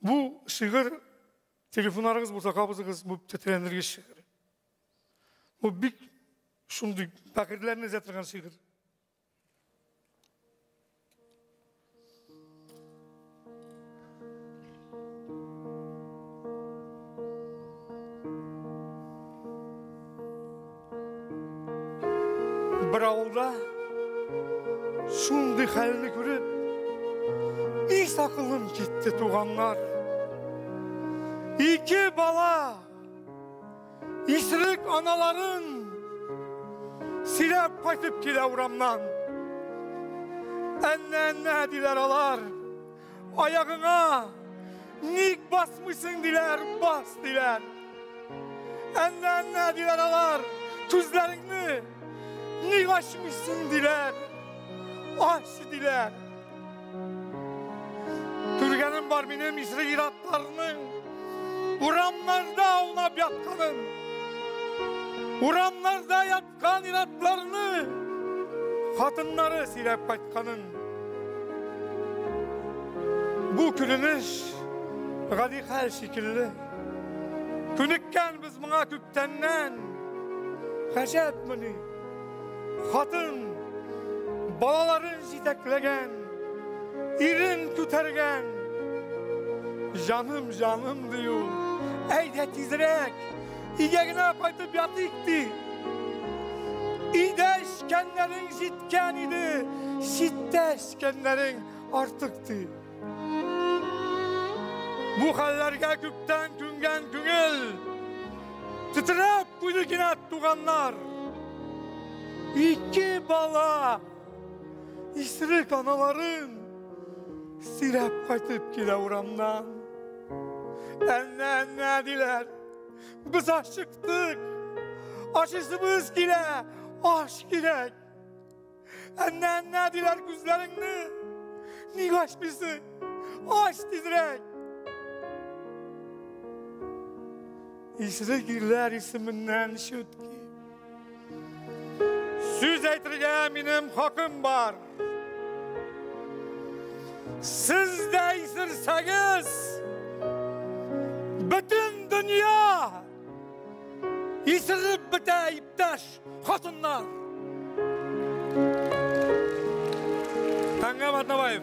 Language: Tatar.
Бу шигырь телефоннарыгыз булса кабызыгыз, бу тетрәндергеч шигырь. Бу бик шундый бәгырьләрне өзә торган шигырь. Бер авылда шундый хәлне күреп, ис акылым китте, туганнар. Ике бала исерек аналарын сөйләп кайтып килә урамнан. Әннә-әннә диләр алар. Аягыңа ник басмыйсың диләр, бас диләр. Әннә, әннә диләр алар, күзләреңне ник ачмыйсың диләр, ач диләр. Күргәнем бар минем исре иратларның, урамнарда аунап ятканын, урамнарда ят Кан инатларны хатыннары сөйләп кайтканын. Бу көлемеш гади хәл шикелле. Күнеккән без моңа күптәннән. Хәҗәтмени? Хатын балаларын җитәкләгән, ирен күтәргән. Җаным, җаным дию. Әйдә тизрәк. Өйгә генә кайтып ятыйк ди. Өйдә эчкәннәрең җиткән иде, читтә эчкәннәрең артык ди. Бу хәлләргә күптән күнгән күңел тетрәп куйды кинәт туганнар. Ике бала исрек аналарын сөйрәп кайтып килә урамнан. Әнә-әнә диләр. Без ашыктык. Ашысыбыз килә, аш кирәк. Әннә, әннә диләр күзләреңне. Ник ашмыйсың? Аш тизрәк. Исрек ирләр исеменнән чүтки. Сүз әйтергә минем хакым бар. Сез дә исерсәгез, бөтен дөнья исереп бетә, иптәш хатыннар. Таңгам Атнабаев.